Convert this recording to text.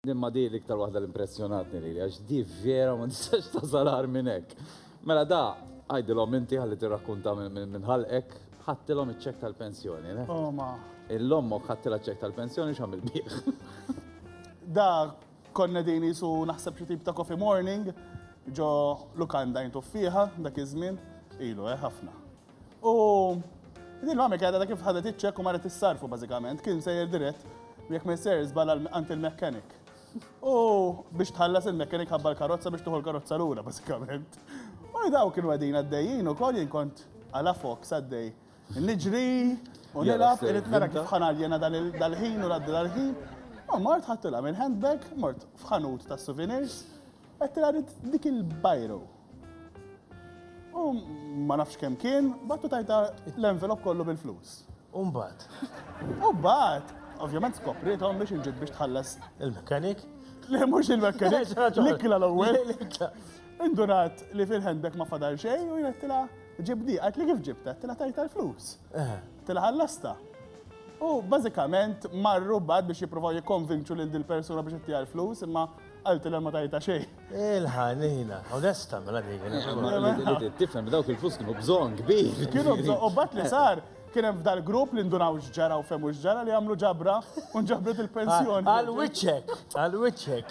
Imma di l-iktar waħda l-impressjonatni li għax di vera ma nistax tasalar minn hekk. Mela da, għajdilhom inti ħalli tirrakkunta minn ħalqek, ħattilhom iċ-ċek tal-pensjoni. le? Oh ma. Il-lommok ħattila ċek tal-pensjoni x'għamil bih. Da konna din jisu naħseb xi tip ta' coffee morning ġo lukanda jintu fiha dak iż-żmien ilu eh ħafna. U din l-għamil kħedha ta' kif ħadet iċċek u marret issarfu bażikament, kien sejjer dirett jekk ma jsejjer żbala għand il-mekkanik. U biex tħallas il-mekkanik ħabba l-karozza biex tuħu l-karozza lura bażikament. U daw kienu għadin għaddejjin u koll jinkont għala fok saddej. Niġri u nilaf, irrit nara kif ħanaljena dal-ħin u l-għadda dal-ħin. U mort ħattila minn handbag, mort fħanut ta' souvenirs, għattila dik il-bajru. U ma nafx kemm kien, battu tajta l-envelop kollu bil-flus. Umbat. Umbat. Ovvjament skopritom biex inġib biex tħallas. Il-mekanik? Le, mux il-mekanik. L-ikkla l-ewwel. Indunat li fil-ħendek ma fadal xej u jgħettila ġibdi, għat li kif ġibta, tila tajta l-flus. Eh. Tila ħallasta. U bażikament marru bad biex jippruvaw jikkonvinċu lil dil persuna biex ittija l-flus, imma għaltilha ma tajta xejn. Il-ħanina, onesta, mela dik. Tifhem b'dawk il-flus kienu bżonn kbir. Kienu bżonn, u bat li sar, kien hemm f'dal grupp li ndunaw x'ġara u fehmu x'ġara li għamlu ġabra u nġabret il-pensjoni. Għal wiċċek, għal wiċċek.